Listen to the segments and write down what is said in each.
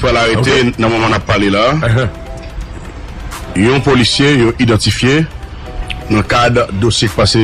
Pral arete nan moman nap pale la yon polisye yo idantifye nan kad dosye k pase.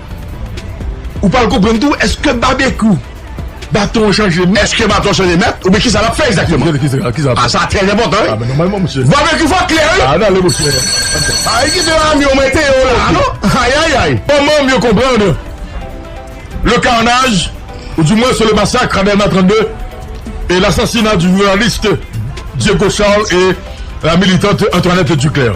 Ou pral konprann tou eske babekyou baton an chanje mèt. Eske baton an chanje mèt oubyen kisa lap fè egzakteman. Ah sa trè enpòtan wi. Babekyou fò klè wi. Ah nan lèm chè. Ah e kite ame yo mwen teye yo la a non. Ayayay. Bon manm yo konprann le carnage ou du moins le massacre à Delma 32 et l'assassinat du journaliste Diego Charles et la militante Antoinette Duclaire.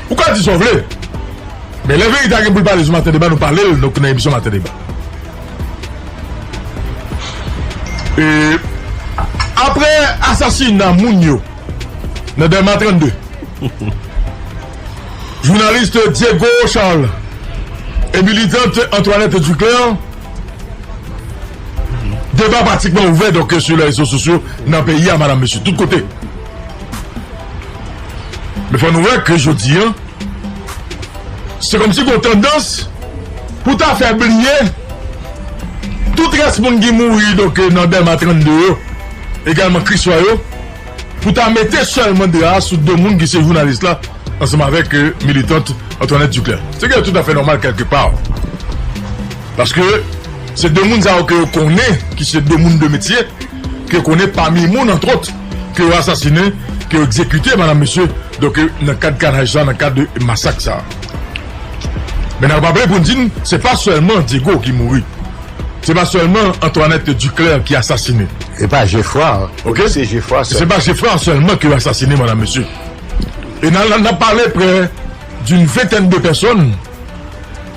Ou ka di sa w vle, men lè verite a gen pou l pale sou Maten Deba nou pale l nan emisyon Maten Deba. E apre asasina moun yo nan Dèlma 32, jounalis Diego Charles e militant Antoinette Duclaire, deba pratikman ouvè sou rezo sosyo nan peyi a, madanm, mesye, tout kote. Men fò nou wè ke jodi an, se kòmsi gen yon tandans pou ta fè bliye tout rès moun ki mouri donk nan Dèlma 32 yo, egalman Kriswa yo, pou ta mete sèlman dra a sou do moun ki se jounalis la ansanm avèk militant Antoinette Duclaire. Se kèk toutafè nòmal kèlke pa. Paske se de moun sa yo ke yo konnen ki se de moun de metye, ke yo konnen pami moun antwòt. ke yo asasinen, ke yo egzekite madam mesye, donk nan kad kanaj sa, nan kad masak sa. Men nan raple pou n di n, se pa sèlman Diego ki mouri, se pa sèlman Antoinette Duclaire ki asasinen. Se pa Geffrard sèlman ke yo asasinen madam mesye. E nan ap pale prè d'une ventèn de pèsòn,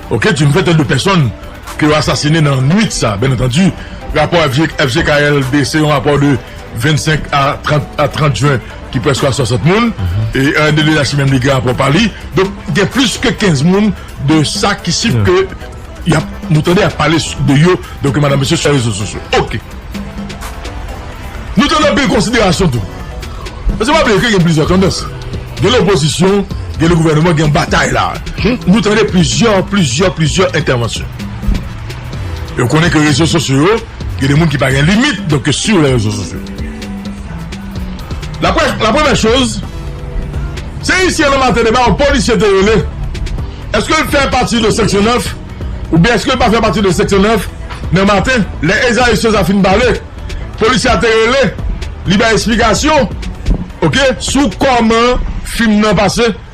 ok, d'une ventèn de pèsòn ke yo asasinen nan nwit sa, byen antandi rapò FJKLD se yon rapò de. 25 a 30 jwen ki prèske a 60 moun e Herny de la Chimie menm li gen rapò pa li donk gen plis ke 15 moun de sa ki si ke y ap nou tande y ap pale de yo de ke madan mesye sou rezo sosyo ok nou tande anpil konsiderasyon tou paske pa bliye ke gen plizyè tandans gen lopozisyon gen le gouvèneman gen batay la nou tande plizyè plizyè plizyè entèvansyon yo konnen ke rezo sosyo yo. Gen de moun ki pa gen limit donk yo siw lè rezo sosyo. La prèv la premè choz se ayisyen nan maten deba yon polisye te rele eskel fè pati de seksyon 9 ou byen eskel pa fè pati de seksyon 9 nan maten lè Ezayi Sosa fin pale polisye a te rele li bay esplikasyon ok sou kòman fim nan pase.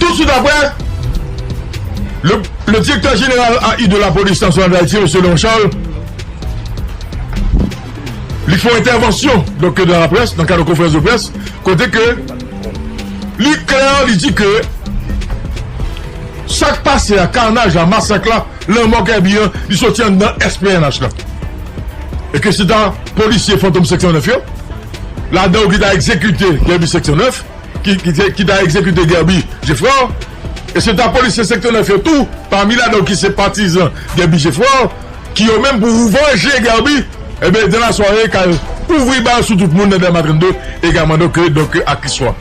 Tousuit aprè, le direktè jeneral AI de lapolis nasyonal dayiti, mesye Leon Charles, li fè yon entèvansyon nan kad yon konferans de près kote ke li klè, li di ke sa k pase a, karnaj la, masak la, lanmò Kerby an, li soti anndan SPNH la e ke se ta polisye Fantom 509 yo. Ladan yo ki ta egzekite Guerby Seksyon 9, ki ta egzekite Guerby Geffrard, e se ta polisye Seksyon 9 yo tou, pami ladan yo ki se patizan Guerby Geffrard, ki yo menm pou vanje Guerby, ebyen dans la soirée ka ouvri bal sou tout moun nan Dèlma 32 egalman donk donk a ki swa.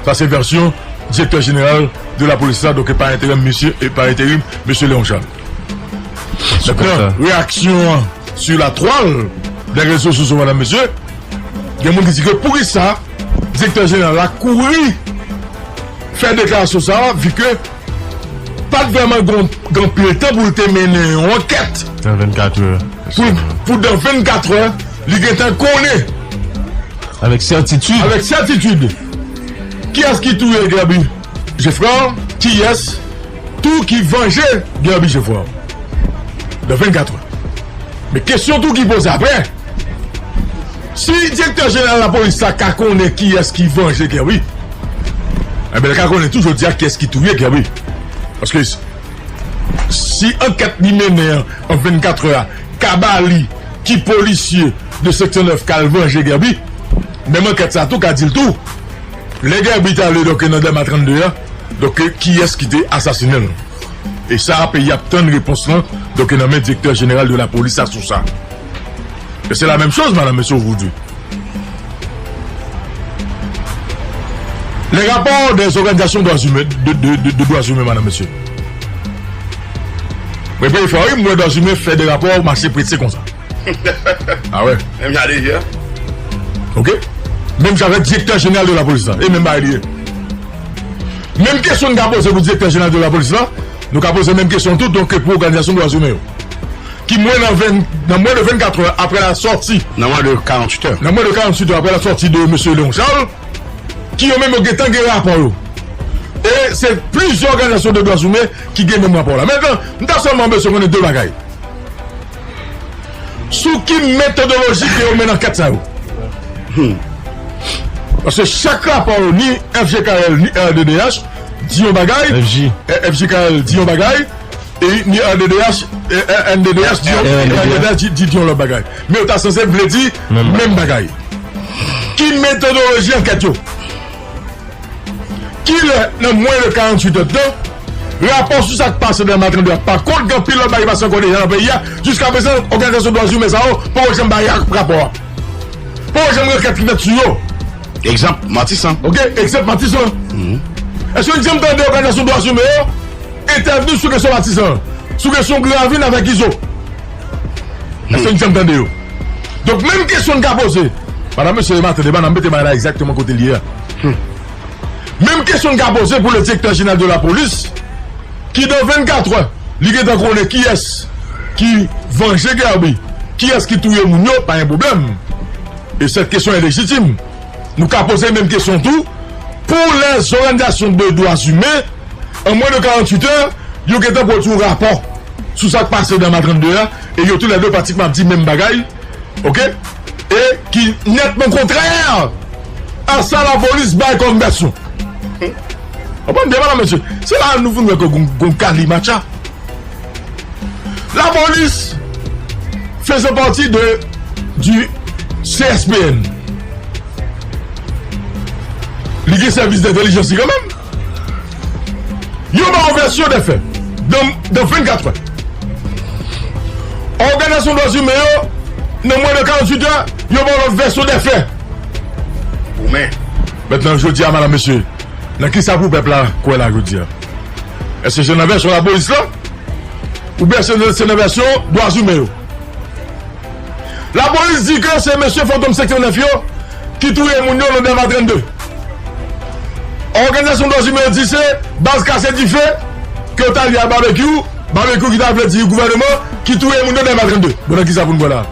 Sa se vèsyon Direktè Jeneral de la Polis la donk pa enterèm misye, pa enterim Mesye Léon Charles. Mètnan, reyaksyon an su la twal dè rezo soso mèdam mesye, gen moun ki di ke poukisa direktè jeneral la kouri fè deklarasyon sa a vi ke pat vrèman gen anpil tan pou l te mennen yon ankèt pou dan 24 è li gen tan konnen avèk sètitid kiyès ki touye Gaby. Geffrard kiyès tou ki vanje Guerby Geffrard nan 24 heures men kesyon tou ki poze aprè si direktè jeneral lapolis la ka konnen kiyès ki vanje Guerby enben li ka konnen tou jodia kiyès ki touye Guerby paske si ankèt li mennen an an 24 heures a ka ba li ki polisye de seksyon 9 kal vanje Guerby menm ankèt sa tou ka dil tou. Lè Gerby t ale donk nan Dèlma 32 a donk kiyès ki te asasinen l? E sa a peyi a ap tann repons lan donk nan men Direktè Jeneral de Lapolis a sou sa. E se lamèm choz Madan Mesye ou vou di. Lè rapò dè zòganizasyon dwa zimen de dwa zimen Madan Mesye. Mwen peye fwa wi m wè dwa zimen fè de rapò mache prese konsa. Ah wè. Menm jan li ye a. Ok. Menm jan avèk direktè jeneral de lapolis la. E menm bagay li ye. Menm kesyon nou ka poze pou direktè jeneral de lapolis la, nou ka poze menm kesyon tou donk pou òganizasyon dwa zimen yo. Ki mwen nan ven, nan mwen de 24 è aprè la sòti. Nan mwen de 48 è. Nan mwen de 48 è aprè la sòti de mesye Léon Charles. Ki yo menm yo gen tan gen rapò yo. E se plizyè òganizasyon de dwa zimen ki gen menm rapò la. Mentenan, m ta sèlman bezwen konnen 2 bagay. Sou ki metodoloji ke yo mennen ankèt sa yo? Hum. Paske chak rapò yo ni FJKL ni RDDH di yon bagay, FJKL di yon bagay e ni RDDH, RNDDH di yon, RNDDH di yon lòt bagay. Men yo ta sanse vle di menm bagay. Ki metodoloji ankèt yo? Ki lè nan mwen de 48 èd tan, rapò sou sa k pase nan Matandè a pa kont gen anpil lòt bagay ki pase ankò deja nan peyi a, jiska prezan òganizasyon dwazimen sa yo poko janm bay rapò a. Poko janm gen ankèt ki fèt sou yo. Egzanp, Matisan. Ok, egzanp Matisan. Èske n janm tande òganizasyon dwazimen yo entèvni sou kesyon Matisan an? Sou kesyon Gravin avèk Izo? Èske n janm tande yo? Donk menm kesyon n ka poze, madanm, mesye, e maten debat n ap mete bagay la egzakteman kote l ye a. Humm. Menm kesyon n ka poze pou le direktè jeneral de la polis ki dan 24 è li gentan konnen kiyès ki vanje Guerby, kiyès ki touye moun yo pa gen pwoblèm e sèt kesyon e lejitim. Nou ka poze menm kesyon tou pou lè zoranizasyon de dwa zimen an mwen de 48 è yo gentan pwodui yon rapò sou sa k pase dan ma 32 a e yo tou lè de pratikman ap di menm bagay ok. e ki nètman kontrè a sa lapolis bay kòm vèsyon. Konprann byen medam mesye, se la a nou vin wè ke gon kalimatcha. Lapolis fese pati de di CSPN. Li gen sèvis dentelijans li kanmenm. Yo ba yon vèsyon dè fè, nan 24 è. Òganizasyon dwa zimen yo, nan mwen de 48 è, yo ba yon lòt vèsyon dè fè. Pou mè. Mèt nan jodi a madam mesye, nan ki sa pou pèp la kwè la jodi a? Èske se nan vèsyon lapolis la? Ou byen se nan vèsyon dwa zimen yo? Lapolis di ke se mesye fantom seksyon 9 yo ki touye moun yo nan Dèlma 32. Òganizasyon dwa zimen yo di se baz kase dife ke yo ta li a Babekyou, Babekyou ki ta vle di gouvèneman ki touye moun yo Dèlma 32. Bon nan kisa pou n kwè la a?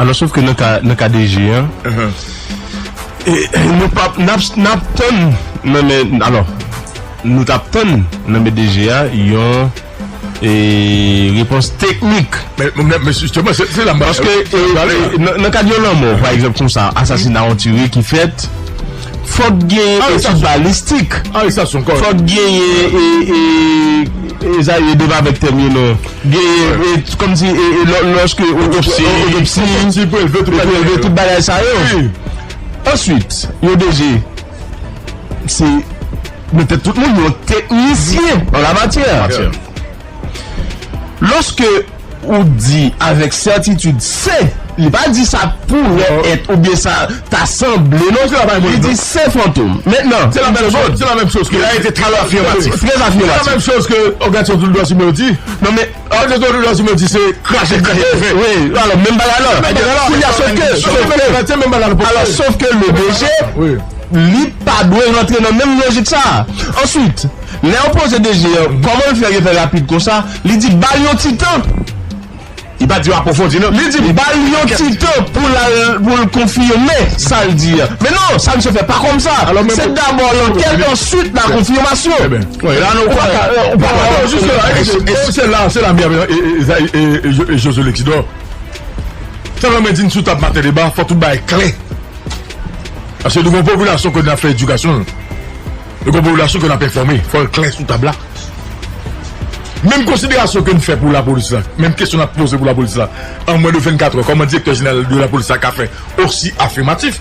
Alò sof ke nan ka DG an, nou pa n ap tann nan men, alò nou t ap tann nan men DG a yon. E repons teknik. Men jisteman se la. Paske nan kad yon lanmò pa egzanp konsa asasina yon tire ki fèt fòk gen etid balistik fòk gen e sa ye deva vèk tèm yo non gen e kòm si e lòske otopsi otopsi pou elve tout bagay sa yo answit yo deje Se mete tout moun yon teknisyen an la matyè. Lòske ou di avèk sètitid se, li pa di sa poure et ou byen sa ta sanble non. Li di se fantom. Mentnan. Se la menm chòz. Se la menm chòz ke. Li la e te trè afirmatif. Trè afirmatif. Se la menm chòz ke òganizasyon tout dwa simen yo di. Non men. Alò se Dodo Jazmine di se krache krache yo fè. Wi, alò menm bagay la. Menm bagay la. Kounya sof ke, sof ke. Menm bagay, se menm bagay la pou fè. Alò sof ke le DG, li pa dwe rantre nan menm lojik sa a. Answit, lè yo poze DG an, kòman l fè yo fè rapid konsa, li di ba l yon ti tan. Li pa di yo apwofondi non. Li di ba l yon ti tan pou l al, pou l konfime sa l di a. Men non, sa misye fè pa kòmsa. Se dabò lankèt, answit la konfimasyon. Ou pa ka ale jiska la e se la se la meyè Ezayi e Jozye Lekidò sa vle mwen di n sou tab maten deba fò tout bagay klè paske nou gon popilasyon ke n ap fè edikasyon l nou gon popilasyon ke n ap enfòme fò l klè sou tab la menm konsiderasyon ke n fè pou lapolis la menm kesyon n ap poze pou lapolis la an mwen de 24 è kòman direktè jeneral de lapolis la ka fè osi afimatif.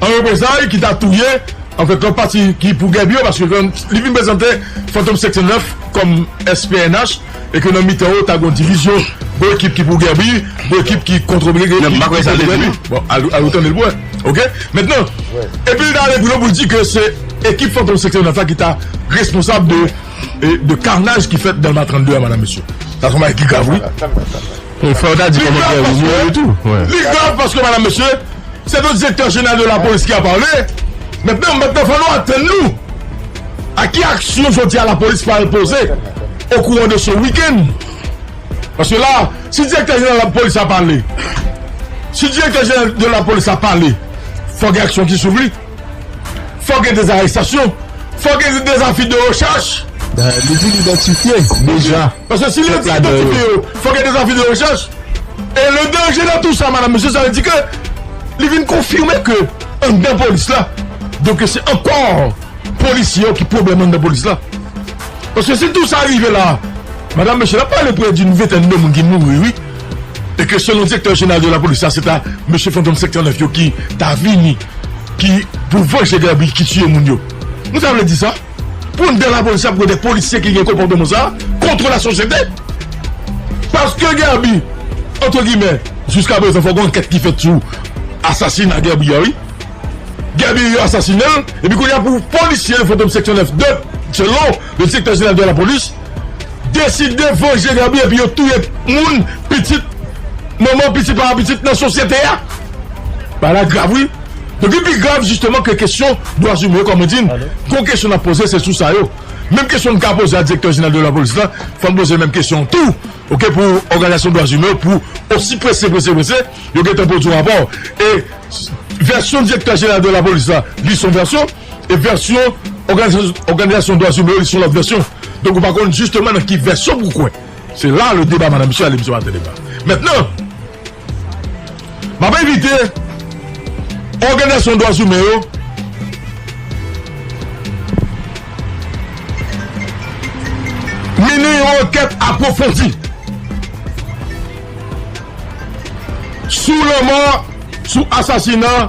An reprezay ki ta touye an fèt lòt pati ki pou Gèbi yo paske ke li vin prezante Fantom 509 kòm ès pnh e ke nan mitan yo ta gon divizyon gon ekip ki pou Gèbi gon ekip ki kontre Gèbi ki kontre Gèbi sa vle di bon al ou tande l pou wè ok mentnan epi li ta ale pi lwen pou l di ke se ekip Fantom 509 la ki ta responsab de de karnaj ki fèt Dèlma 32 a madam mesye sa son bagay ki grav wi. Li grav paske madam mesye se do direktè jeneral de la polis ki a pale Mètnen mètnen fò nou atenn nou a ki aksyon jodi a la polis pral poze o kouran de se wikenn paske la si direktè jeneral de la polis a pale si direktè jeneral de la polis a pale fò gen aksyon ki souvni Fòk gen dezarèstasyon, fòk gen dezafi de rechèch. Li di li idantifye deja. Paske si li di idantifye yo, fòk gen dezafi de rechèch. E le danje nan tou sa, madam, mesye, sa vle di ke li vin konfime ke anndan polis la, donke se ankò polisye yo ki pwoblèm anndan polis la. Paske si tou sa rive la, madam, mesye, n ap pale pre doun ventèn de moun ki mouri, wi, e ke selon direktè jeneral de lapolis la, se ta mesye Fantom 509 yo ki ta vini. Ki pou vanje Gaby ki tiye moun yo. Nou ta vle di sa? Pou n dan lapolis ap goude polisye ki gen konpòteman sa kontre lasosyete? Paske Gaby antre gimè jiska prezan fòk yon ankèt ki fèt sou asasina Gaby a wi. Gaby yo asasine l epi kounye a pou polisye fantom seksyon 9 de selon Le Direktè Jeneral de la Polis deside vanje Gaby epi yo touye moun, pitit, manman, pitit papa, pitit nan sosyete a. Bagay la grav wi. Donk li pi grav jisteman ke kesyon dwa zimen yo kòm mwen di n, gwo kesyon n ap poze se sou sa yo. Menm kesyon n ka poze a Direktè Jeneral de la Polis la, fò n poze menm kesyon an tou ok pou òganizasyon dwa zimen yo pou osi prese prese prese yo gentan pwodui rapò. E vèsyon Direktè Jeneral de la Polis la li son vèsyon. E vèsyon òganizasyon dwazimen yo li se yon lòt vèsyon. Donk ou pa konn jisteman nan ki vèsyon pou w kwè. Se la le deba madan misye ale misye pa tande deba. Mentnan, m ap envite òganizasyon dwazimen yo mennen yon ankèt apwofondi sou lanmò, sou asasina.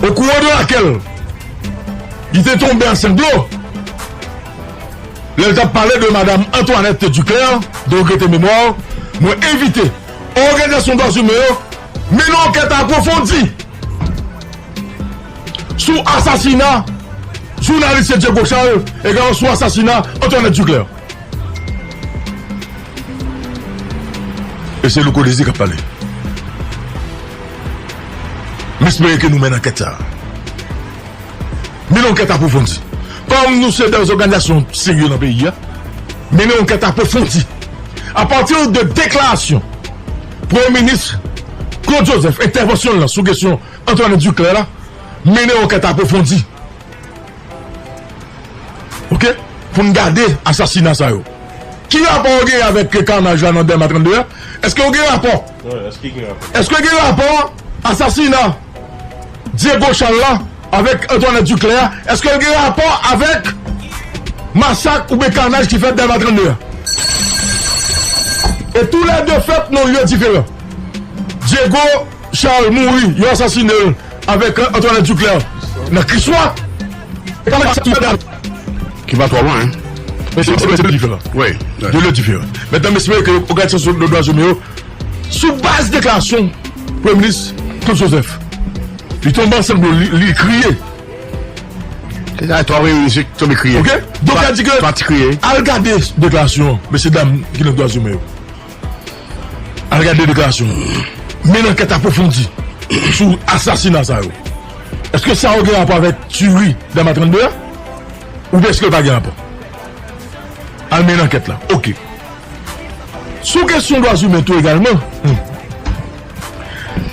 O kou o do akè l. Li te tonbe a sanglo. Lè l t ap pale de madam Antoinette Duclaire, de regrete memwa w, mwen envite òganizasyon dwazimen yo mennen ankèt apwofondi sou asasina jounaliste Diego Charles, egalman sou asasina Antoinette Duclaire. E se Louko Désir k ap pale. M espere ke nou menn ankèt sa a. Mennen ankèt apwofondi. Kòm nou se de zòganizasyon serye nan peyi a, mennen ankèt apwofondi. A pati de deklarasyon Premye Minis Claude Joseph, entèvansyon l lan sou kesyon Antoinette Duclaire la, mennen ankèt apwofondi. Ok pou n gade asasina sa yo ki rapò yo genyen avèk karnaj la nan dèlma 32 a èske yo gen rapò èske gen rapò asasina dyego chal la avèk antwanèt diklè a èske l gen rapò avèk masak oubyen karnaj ki fèt dèlma 32 a e tou lè 2 fèt nan lye diferan dyego Charles mouri, yo asasine l avèk Antoinette Duclaire nan Kriswa. Ki pa twò lwen hein. Men se de lè diferan. Wi. De lè diferan. Mètnan m espere ke òganizasyon dwa zoumen yo sou baz deklarasyon Premye Minis Claude Joseph. Li tonbe ansanm dlo li kriye. Se sa twò reyini se tonbe kriye. Ok. Donk sa di ke al gade deklarasyon mesye dam ki nan dwa zoumen yo. Al gade deklarasyon yo. Mennen ankèt apwofondi sou asasina sa yo. Eske sa yo gen rapò avèk tiuri Dama 32 a? Oubyen eske l pa gen rapò? Al mennen ankèt la. Ok. Sou kesyon dwazimen tou egalman,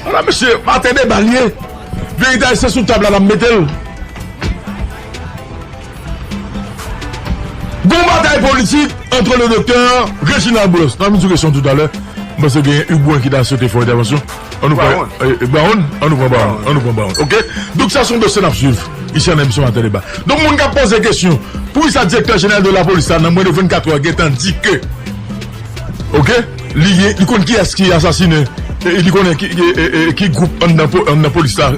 a la mesye, atè deba l ye. Verite ayisyen sou tab la n ap mete l. Gon batay politik antre le doktè Reginald Brosse nan mizik Reson toutalè m panse genyen Hugues Brun ki ta swete fè yon entèvansyon an nou pran Brown an nou pran Brown an nou pran Brown ok donk sa son dosye n ap swiv isi an emisyon maten deba donk moun k ap poze kesyon poukisa direktè jeneral de lapolis la nan mwen de 24 è gentan di ke ok li gen li konn kiyès ki asasine e li konnen ki e ki gwoup anndan anndan polis la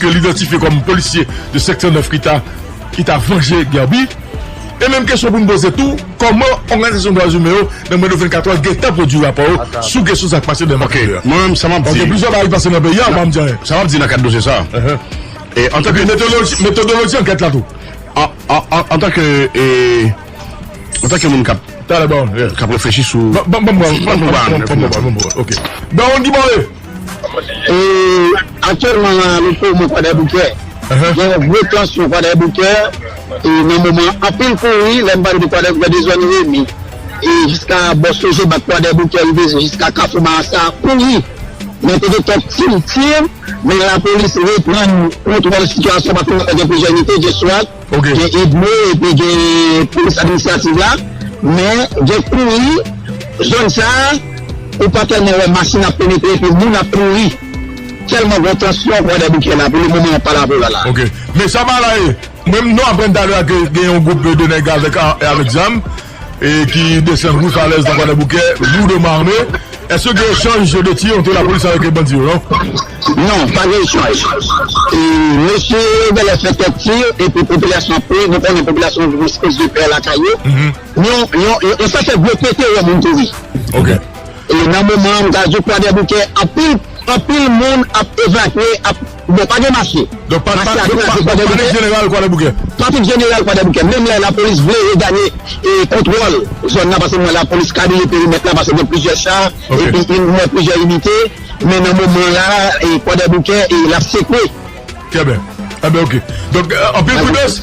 ke l idantifye kòm polisye de seksyon 9 ki ta. ki ta vanje Guerby e menm kesyon pou n poze tou kòman òganizasyon dwa imen yo nan mwen de 24 èr gentan pwodui rapò yo sou kesyon sa k pase nan makòk yo a paske plizyè bagay ki pase nan peyi a ou pa m di anyen sa m ap di nan kad dosye sa epi metodoloji ankèt la tou antanke antanke moun k ap k ap reflechi sou banm bwa m banm bwa m banm bwa m ok Baron Guimore. Aktyèlman nan Alepo mwen Kwadèboukè gen yon gwo tansyon Kwadèboukè nan moman an anpil kouri lè m pale de Kwadèboukè de zòn Remi jiska bò Sogebank Kwadèboukè rive jiska kafou Marsa kouri men te gen kèk ti tir men lapolis reprann kontwòl sitiyasyon an paske gen plizyè inite gen swat Gen Edmo epi gen polis administrativ la men gen kouri zòn sa ou pa tèlman wè machin ap penetre epi moun ap kouri tèlman gen tansyon kwadèboukè la pou le moman wap pale avèw la la. Ok men sa bagay mwen m nou aprann talè a ke gen yon group de nèg avèk zam. e ki desann rue Falaise nan Kwadèboukè, lourdement armé. Est-ce que gen echanj de tir entre la police avec bandi yo non? Non, pa gen echanj. E mesye yo genlè fè kèk tir epi popilasyon ap kouri, nou konnen popilasyon gen yon espès de pè lakay yo. Yon yon sa fè gwo pete wè moun kouri. Ok. E nan moman an m ka di w Kwadèboukè anpil anpil moun ap evakye ap. Bon, pa gen mache. Donk pa pale de jeneral kwadèboukè. Pa tout jeneral kwadèboukè. Menm lè lapolis vle reganye kontwòl zòn nan pase mwen lapolis kabriye perimèt la pase gen plizyè cha epi gen mwen plizyè inite men nan moman la kwadèboukè e l ap sekwe. Trè byen. Enben ok. Donk anpil pridans.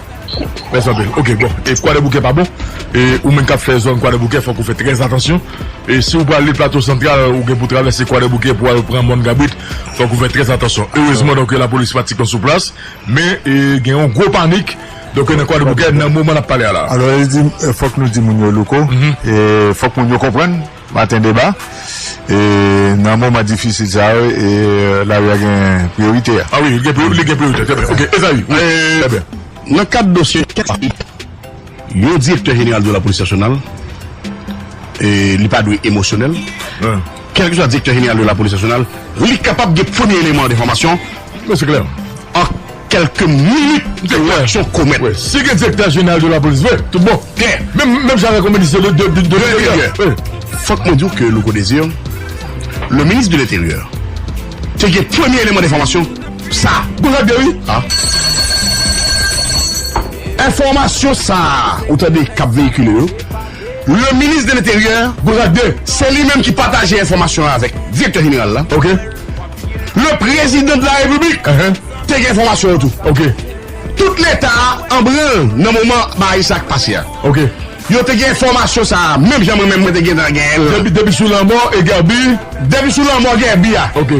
Mèsi anpil. Ok bon e kwadèboukè pa bon e ou menm kap fè zòn kwadèboukè fòk ou fè trè atansyon e si ou pral li plato santral ou gen pou travèse kwadèboukè pou al pran mòn kabrit fòk ou fè trè atansyon erezman donk lapolis pa tikon sou plas men e gen yon gwo panik donk nan kwadèboukè nan moman nap pale a la. Alò e di fòk nou di moun yo louko e fòk moun yo konprann. Maten deba, e nan moman difisil sa yo e lari a gen priyorite a. A wi, li gen priyorite, trè byen. Ok, Ezayi, wi, trè byen. Nan kad dosye kèk sa yo, yon direktè jeneral de lapolis nasyonal, e li pa dwe emosyonèl, kèlkeswa direktè jeneral de lapolis nasyonal, li kapab gen premye eleman an enfòmasyon, an, Kèlke minit m te wè yon komèt. Si gen direktè jeneral de lapolis vre, tout bon. Menm jan avèk yon minis de leteryè. Fòk mwen di w ke Louko Desir, le ministre de l'Intérieur, te gen premye eleman denfòmasyon sa a. Bon sa k di a wi. Enfòmasyon sa a ou tande k ap veyikile yo, le ministre de l'Intérieur, bon sa k di, se li menm ki pataje enfòmasyon an avèk direktè jeneral la, le prezidan de la repiblik, Te gen enfòmasyon yo tou. Ok. Tout Leta a an branl nan moman bagay sa k pase a. Ok. Yo te gen enfòmasyon sa a menm jan mwen menm mwen te gentan gen l. Depi depi sou lanmò e Guerby. Depi sou lanmò Guerby a. Ok.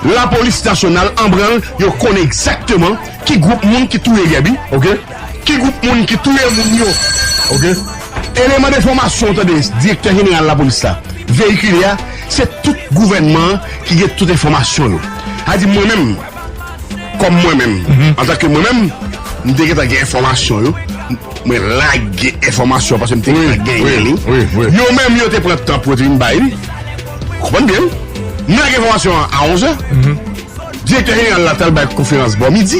Lapolis nasyonal an branl, yo konnen egzakteman ki gwoup moun ki touye Guerby. Ok. Ki gwoup moun ki touye moun yo? Ok. Eleman de enfòmasyon ou tande Direktè Jeneral Lapolis la veyikile a, se tout gouvènman an ki gen tout enfòmasyon yo. Sa vle di mwen menm, kòm mwen menm, antanke mwen menm, m te gentan gen enfòmasyon yo, mwen lage enfòmasyon paske m te gentan genyen li. Yo menm yo te pran tan pou yo te vin bay li. Ou konprann byen wi. M lage enfòmasyon an a onzè. Direktè Jeneral la t al bay konferans bò midi.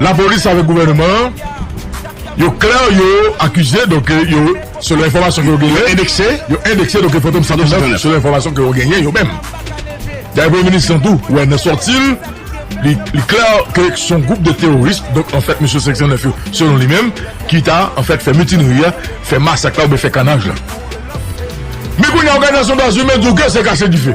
Lapolis avèk gouvèneman an yo klè yo akize donk yo selon enfòmasyon ke yo genyen yo endekse yo endekse donk fantom 129 selon enfòmasyon ke yo genyen yo menm dayè premye minis lan tou wè nan sòti l li li klè ke s on gwoup de teworis donk anfèt mesye 509 yo selon li menm ki ta anfèt fè mitinri a fè masak la oubyen fè kanaj la men kounye a òganizasyon dwazimen di w ke se kache dife.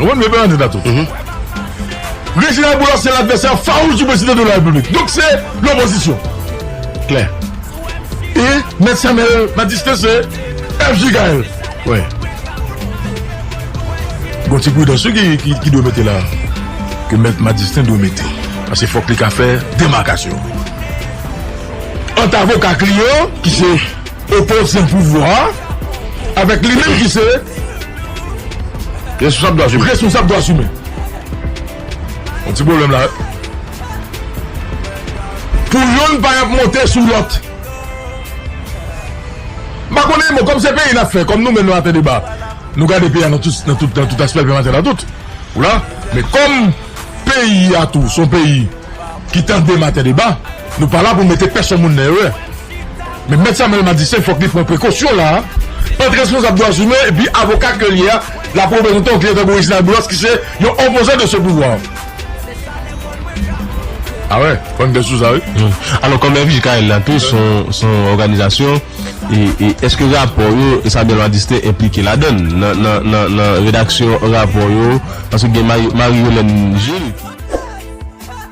Ou konn mwen pale de dat ou? Reginald Boulos se ladvèsè fawouch di prezidan de la repiblik. Donk se lopozisyon. Klè. E mèt Samuel Batiste se FJ Gaël. Wè. Gon ti pridans wi ki dwe mete la. Ke mèt Madistin dwe mete. Pase fòk li ka fè demakasyon. Ant avoka ak li yo ki se. Opozan pouvwa a avèk li menm ki se responsab dwa zimen. Yon ti pwoblèm la. Pou yonn pa ap monte sou lòt. M pa konnen bon kòm se peyi n ap fè, kòm nou menm nan Maten deba nou gade peyi a nan tout aspè l fè Maten nan tout, ou la, men kòm peyi a tou s on peyi ki tande Maten deba nou pa la pou mete pèsonn moun nan erè. Men Mèt Samuel Madistin fòk li pran prekosyon la a ant responsab dwa zimen epi avoka ke l ye a, l ap reprezante yon klyen tankou Reginald Boulos ki se yon opozan de se pouvwa an. A wè, bann de sousa wi. Alò kòm FJKL la tou son son òganizasyon e èske rapò yo Samuel Madistin enplike ladann nan nan nan nan redaksyon rapò yo paske gen Marie Yolène Gilles ki